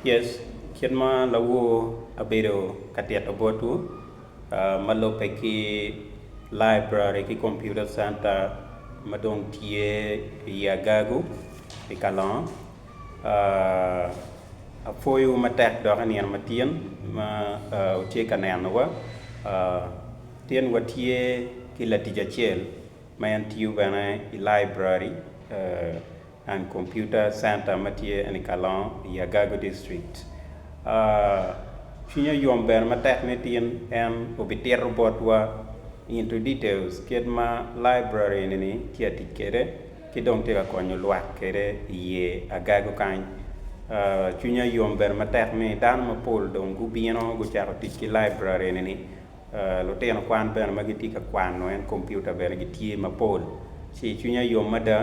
Yes, kit ma lawor abedo ka tito botwu ma lubbe ki Library ki Computer Center ma dong tye i Agago i Kalongo. Apwoyowu matek dok i nino matin ma wutye ka nenowa. Tin watye ki latic acel ma en tiyo bene i Library. and Computer Center ma tye eni Kalongo i Agago District. Cwinya oyom bene matek ni tin en obitito botwa into details kit ma library eni-ni tye ka tic kwede ki dong tye ka konyo lwak kwede iye Agago kany. Cwinya oyom bene matek ni dano mapol dong gubino gucako tic ki library eni-ni. Lutino kwan bene ma gitye ka kwano en kompiuta bene gitye mapol ci cwinya yom mada.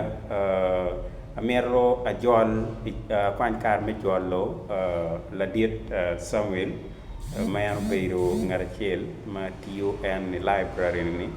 Amito ajol akwany kare me jolo ladit Samuel ma en obedo ngat acel ma tiyo en i laibrari-ni.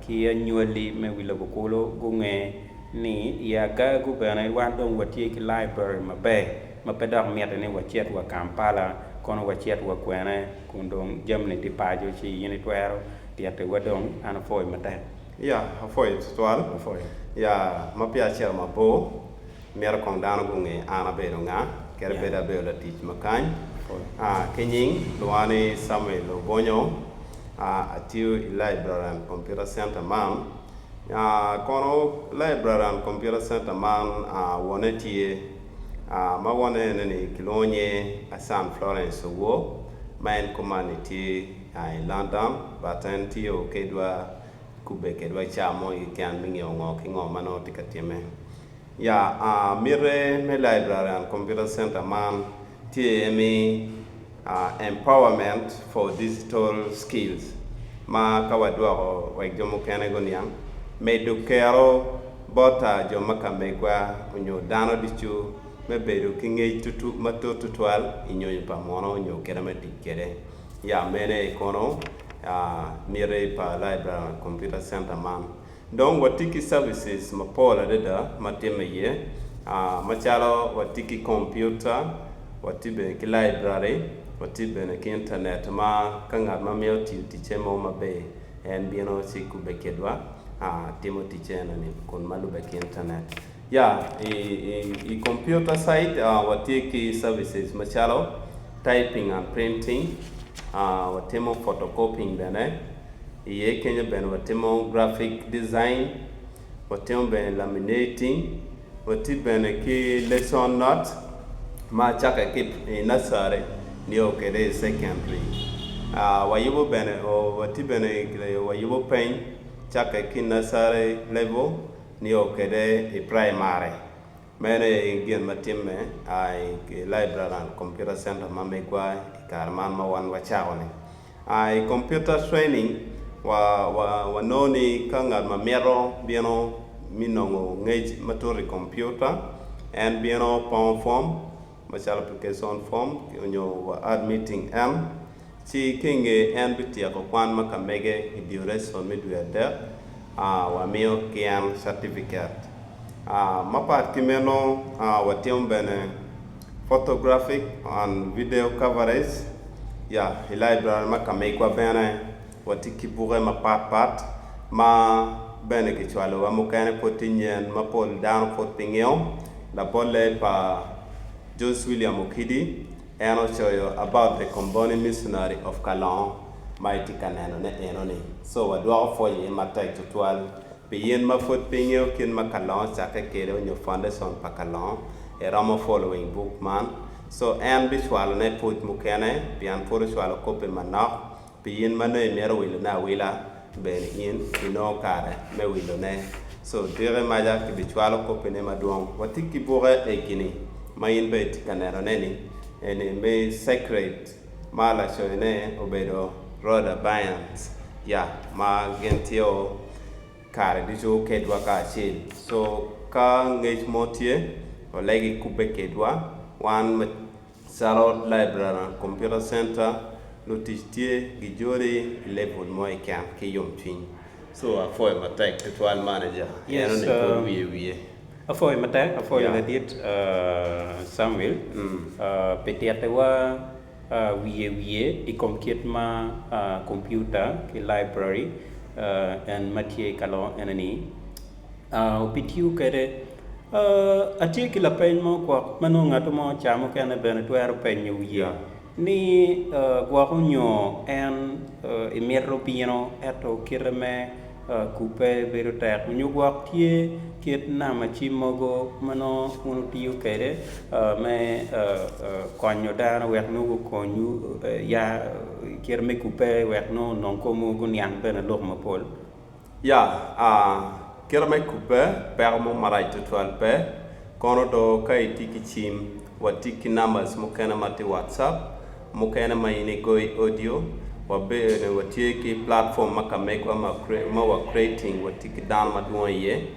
ki anywali me wi lobo kulu gunge ni i agagu bene wan dong watye ki library maber ma pe dok mitte ni wacit wa Kampala kono wacit wa kwene kun dong jamni tye paco ci in itwero titi wa dong an apwoyo matek. Yeah apwoyo tutwal yeah ma peya acito mabor. Myero kong dano gunge an abedo nga, kadi bed abedo latic ma kany. Ki nying luwa ni Samuel Obonyo, atiyo i Library and Computer Center man. Kono Library and Computer Center man wonne tye, ma wonne ene ni kilwongo nye Asan Florence Owor, ma en kumanni tye i London but en tiyo kedwa, kubbe kedwa ca mo keken me ngeyo ngo ki ngo ma nongo tye ka timme. Ya, mitte me Library and Computer Center man tye iye ni Empowerment for Digital Skills, ma ka wadwoko wek jo mukene guniang, medo kero bot jo ma ka megwa onyo dano ducu me bedo ki ngec matut tutwal i nyonyo pa muno onyo kite me tic kwede. Ya, mene aye kono miti pa Library and Computer Center man. Dong watye ki services mapol adada ma timme iye, macalo watye ki kompiuta, watye bene ki laibrari, watye bene ki Intanet ma ka ngat ma mito tiyo ticce mo maber, en bino ci kubbe kidwa, timo ticce enoni kun ma lubbe ki Intanet. Ya, i, i, i computer side, ah, watye ki services macalo typing and printing, ah, watimo photocopying bene, i ye kenyo bene watimo graphic design, watimo bene laminating, wati bene ki lesson notes ma acake ki i nursery nio kede i secondary. Ah, wayubo bene, oh, wati bene, wayubo peny cake ki nursery level, Nio kwede i praimari. Meno aye gin ma timme i Laibrari and Computer Center ma migwa i kare man ma wan wacako-ni. I Computer Training, wanongo ni ka ngat ma mito bino me nongo ngec matut i kompiuta, en bino pongo pom, macalo application form onyo wa ad meeting en, ci ki inge en bityeko kwan ma ka mege i duration me dwe adek, a wa miyo ki en catifiket. A mapat ki meno, a wa timo bene photographic and video coverage, ya, i library ma ka megwa bene. Watye ki buke mapat pat ma bene kicwalowa, mukene pud tye nyen ma pol dano pud pe ngiyo. Labolle pa George William Okidi, en ocoyo about the Komboni Missionary of Kalongo ma itye ka neno ne enoni. So wadwoko pwony iye matek tutwal pi in ma pud pe ingeyo kit ma Kalongo ocakke kede onyo foundation pa Kalongo, iromo following book man. So en bicwalo ne pwod mukene pien pud ocwalo kopi manok. Pi in ma nongo imito wilone awila, bene in inongo kare me wilone. Co diki maca kibicwalo kopine madwong. Wati ki buke egi ni, ma in bene itye ka nenone-ni, eni me Sacred, ma lacoyone obedo Rhoda Byrnes. Ya, ma gin tye o kare ducu kedwa kacel. Co ka ngec mo tye, olegi kubbe kedwa, wan ma Calo laibrari, kompiuta centa, lutic tye gijoli i level mo keken ki yomcwiny. So apwoyo matek tutwal manager en one kor wiye wiye. Apwoyo matek, apwoyo ladit Samuel pi tittiwa wiye wiye i kom kit ma kompiuta ki laibrari en ma tye ka lor ene ni. opitiwu kwede. Atye ki lapeny mo gwok ma nongo ngat mo ca mukene bene twero penyo wiye ni gwok onyo en imito bino ento kite me kubbe bedo tek onyo gwok tye kit namaci mogo ma nongo wun wutiyo kwede me konyo dano wek nongo gukonyu ya kite me kubbe wek nongo onong komwu guniang bene lok mapol. Ya, kite me kubbe, peko mo marac tutwal pe. Kono do ka itye ki cim, watii ki numbers mukene ma tye WhatsApp, mukene ma in igoyo i audio. Wa bene watye ki platform ma ka megwa ma wa creating watye ki dano madwong iye.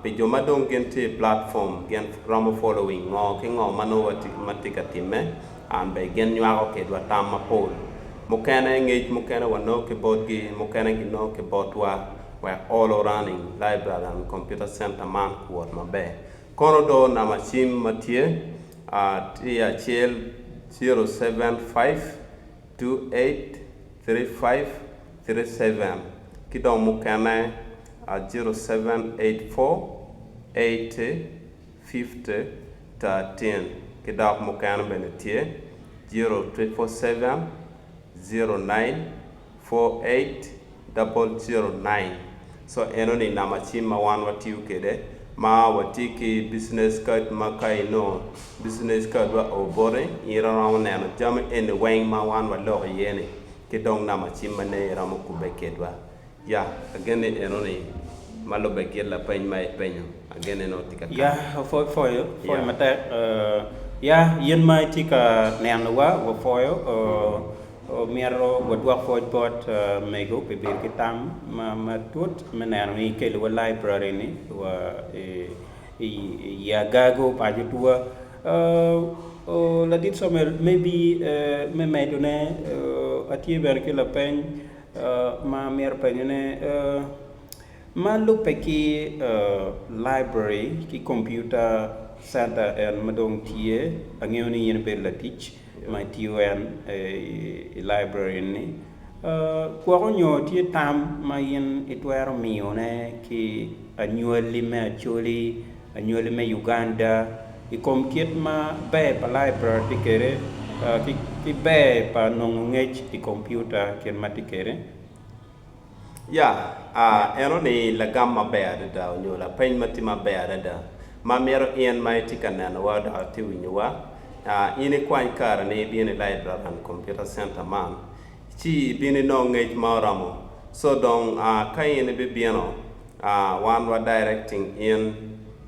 Pi jo ma dong gin tye i platform gin romo following ngo ki ngo ma nongo watye ka timme. An bene gin nywako kedwa tam mapol. Mukene ngec mukene wanongo ki botgi, mukene ginongo ki botwa. Wek olo running library and computer center man kuwot maber. Kono do namba cim ma tye a tye acel zero seven five two eight three five three seven ki dong mukene a zero seven eight four eight fifty thirteen ki dok mukene bene tye zero triple seven zero nine four eight double zero nine so enoni namba cim ma wan watiyo kwede ma watye ki business card ma ka inongo business card wa oo boti in iromo neno jami eni weng ma wan waloko iye ni ki dong namba cim ma nene iromo kubbe kwedwa. Ya, agen ni enoni ma lubbe kit lapeny ma ipenyo, agen en aye tye ka Ya, kany. wapwoyo pwoyo Ya. matek. Ya, in ma itye ka nenowa, wapwoyo. Myero wadwok pwoc bot mego pi bedo ki tam ma matut me neno ni ikeliwa laibrari-ni wa i i i agago pa cutwa. O, Ladit Somel, maybe me medone, atye bene ki lapeny. ma amito penyone, ma lubbe ki library ki computer center en ma dong tye, angeyo ni in ibedo latic ma itiyo en i library eni, gwoko nyo tye tam ma in itwero miyone ki anywali me Acholi? Anywali me Uganda i kom kit ma ber pa laibrari tye kwede ki ber pa nongo ngec i kompiuta kit ma tye kwede. Ya, eno ni lagam maber adada onyo lapeny ma tye maber adada ma myero in ma itye ka nenowa dok itye winyowa, in ikwany kare ni ibino i laibrari man, computer center man, ci ibino inongo ngec ma oromo. So dong ka in ibibino. Ah, wan wa directing in,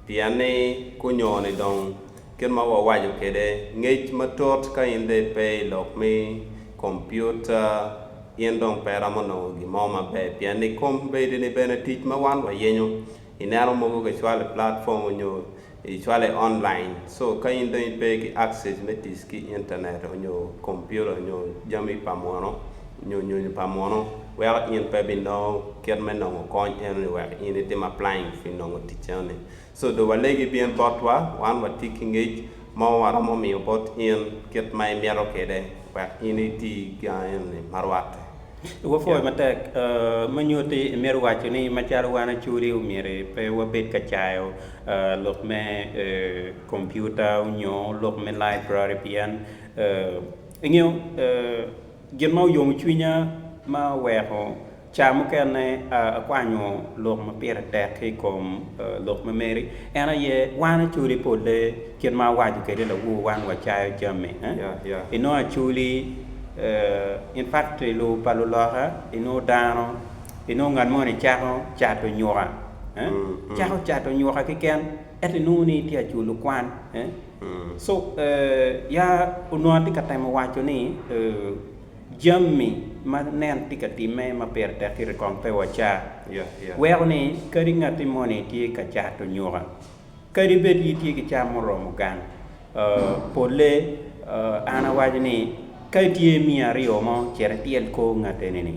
pien ni kunyo-ni dong, kit ma wawaco kwede, ngec matut ka in dong ipe i lok me kompiuta, in dong pe iromo nongo gin mo maber, pien ni kombedini bene tic ma wan wayenyo, ineno mogo kicwalo i platform onyo Icwale online. So ka in dong ipe ki access me tic ki internet onyo computer onyo jami pa muno onyo nyonyo pa muno weko in pe bi nongo kit me nongo kony eno ni wek in itim applying pi nongo tic eno ni. So do walegi bin bot wa wan watye ki ngec mo ma waromo miyo bot in kit ma imito kede wek in iti gangi eno ni ma rwatte. Wapwoyo matek me nyuti imito waco ni macalo wan acuri omyero pe wabed ka cayo lok me kompiuta onyo lok me laibrari pien ingeyo gin ma oyomo cwinya ma oweko ca mukene akwanyo lok ma pire tek ki i kom lok mameri en aye wan acuri polle Kit ma awaco kwede lawur, wan wacayo jami i nongo aculi, in factory pa luloka, i nongo dano, i nongo ngat moni cako cato nyuka, cako cato nyuka keken ento i nongo ni itye ka culo kwan. So ya onongo atye ka temo waco ni jami ma nen tye ka timme ma pire tek kiti kong pe waca weko ni kadi ngati moni tye ka cato nyuka. Kadi bed in itye ki cam muromo gang polle, an awaco ni, ka itye imiyo aryo mo, cit ityel kor ngat eni-ni,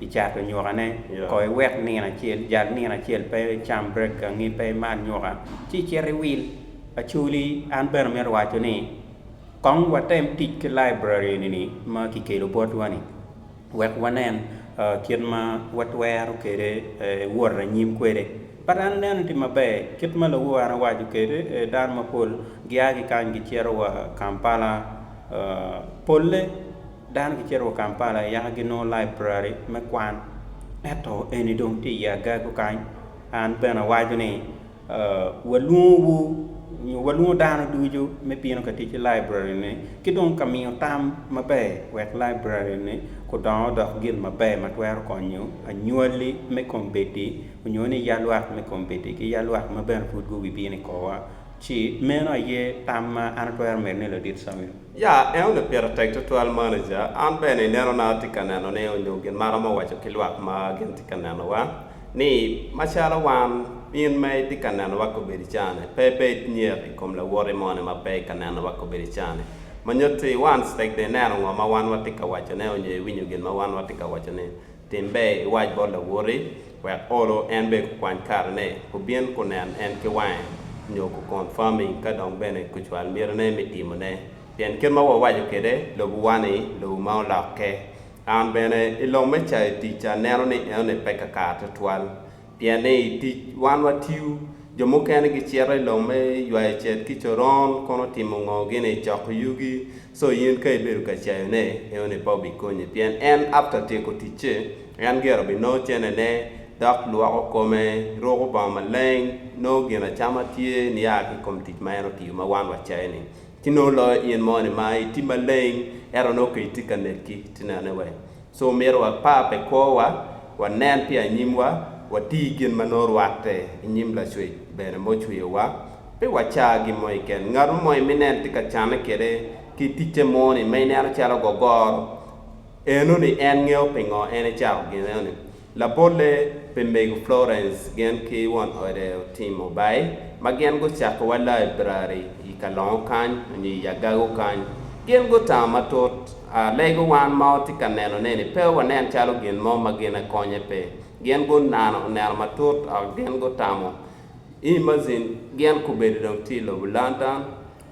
icato nywokane. Kono iwek nino acel, jal nino acel pe icam brek gangi, pe imadh nyoka, ci icit iwil. Actually, an bene amito waco ni, kong watem tic ki laibrari eni-ni ma kikelo botwa-ni. Wek wanen kit ma watwero kwede wot anyim kwede. But an aneno tye maber kit ma lobo en owaco kwede, dano mapol gia ki kany gicito wa Kampala. Polle dano gicito wa Kampala yaka ginongo library me kwan. Ento eni dong tye i ye agagu kany. An bene awaco ni Walwongowu nyo walwongo dano ducu me bino ka tic ki laibrari-ni ki dong ka miyo tam maber wek laibrari-ni odong odok gin maber ma twero konyo anywali me kombeddi onyo ni ya lwak me kombeddi ki ya lwak ma bene pud gubibino i korwa. Ci, meno aye tam ma an atwero medo ni Ladit Samuel. Ya, en onongo pire tek tutwal manager. An bene inenona atye ka neno ni onyo gin ma aromo waco ki lwak ma gin tye ka nenowa. ni, Macalo wan, in ma itye ka nenowa kobedo icane, pe ibed nyek i kom lawoti moni ma pe i ka nenowa kobedo icane. Ma nyuto ni, wan ctg dong ineno ngo ma wan watye ka wacone onyo iwinyo gin ma wan watye ka wacone, tim ber iwac bot lawoti, wek olo en bene kukwany karene, kubin kunen en ki wange, nyo ku confirmi ka dong bene kucwal mitine me timone. Pien kit ma wawaco kwede, lobowa-ni, lobo ma olokke. An bene, i lok me cayo ticca, aneno ni enoni pe kakar tutwal. Pien ni i tic, wan watiyo. Jo mukene gicito i lok me ywayo cet ki coron, kono timo ngo gini? Coko yugi? So in ka ibedo ka cayone, enoni pe obikonyi. Pien en after tyeko ticce, en gire obinongo cennene, dok lwoko kome, ruko bongo maleng, nongo ginacama tye, niya ki i kom tic ma en otiyo ma wan wacayo-ni. Ci nongo loyo in moni ma itye maleng ento nongo ka itye ka nekki, ci nene wek. So omyero wapar pi kwowa, wanen pi anyimwa, wati gin ma nongo rwatte i nyim Lacwec bene ma ocweyowa. Pe waca gin mo keken. Ngat mo ma iminen tye ka canne kwede ki ticce moni ma ineno calo gogoro enoni en ngeyo pingo en ecako gin enoni. Labolle pi Mego Florence gin ki won ode otimo bai ma gin gucakowa laibrari i ka longo kany onyo i agago kany. Gin gutamo matut a lego wan ma watye ka neno ne ni pe wanen calo gin mo ma gin akonye pe. Gin gunano oneno matut a gin gutamo. Imagine gin kubedo dong tye i lobo London.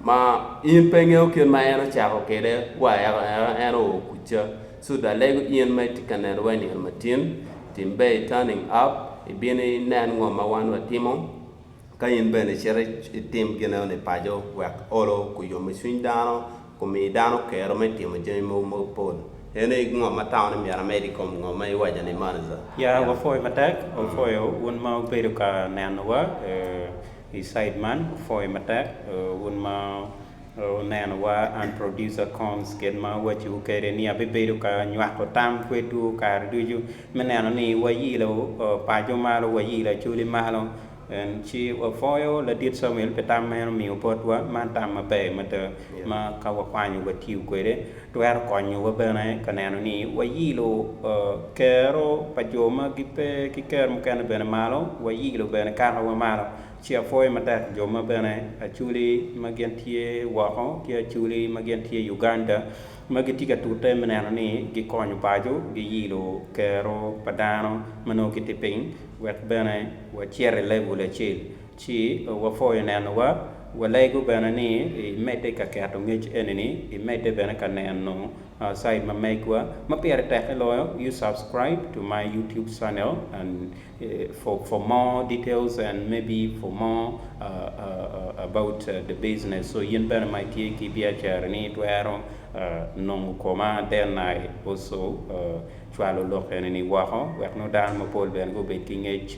ma in pe ingeyo kit ma en ocako kwede wa eka en oo kuca, cud alego in ma itye ka neno wa i nino matin, tim ber i turning up ibin inen ngo ma wan wa timo ka in bene icito itim gineo ni paco wek olo ku yomo cwiny dano ku mi dano kero me timo jami mogo ma pol, en aye ngo ma tamo ni myero amed i kom ngo ma iwaca ni moni za. Ya wapwoyo matek, wapwoyo un ma wubedo ka neno wa. I side man gufoyo matek wun ma wuneno wa and producer Corns kit ma awaci wu kede ni abibedo ka nywako tam kwedwu kare ducu me neno ni wa yilo paco malo wa yilo Acholi malo en ci wa foyo ladit Samuel pi tam ma en omiyo botwa man tam maber mada ma ka wa kwanyo wa tiyo kwede. twero konyowa bene ka neno ni wayilo kero pa jo ma gipe ki kero mukene bene malo, wayilo bene kakawa malo, ci apwoyo matek jo ma bene Acholi ma gin tye woko ki Acholi ma gin tye Uganda ma gitye ka tute me neno ni gikonyo paco giyilo kero pa dano ma nongo kitye piny wek bene wacit i level acel. Ci wapwoyo nenowa. Walego bene ni imedde ka keto ngec eni-ni, imedde bene ka neno site ma megwa ma pire tekke loyo, you subscribe to my YouTube channel and for for more details and maybe for more about the business so in bene ma itye ki biacara ni itwero nongo koma then I also cwalo lok eni-ni woko wek nongo dano mapol bene gubed ki ngec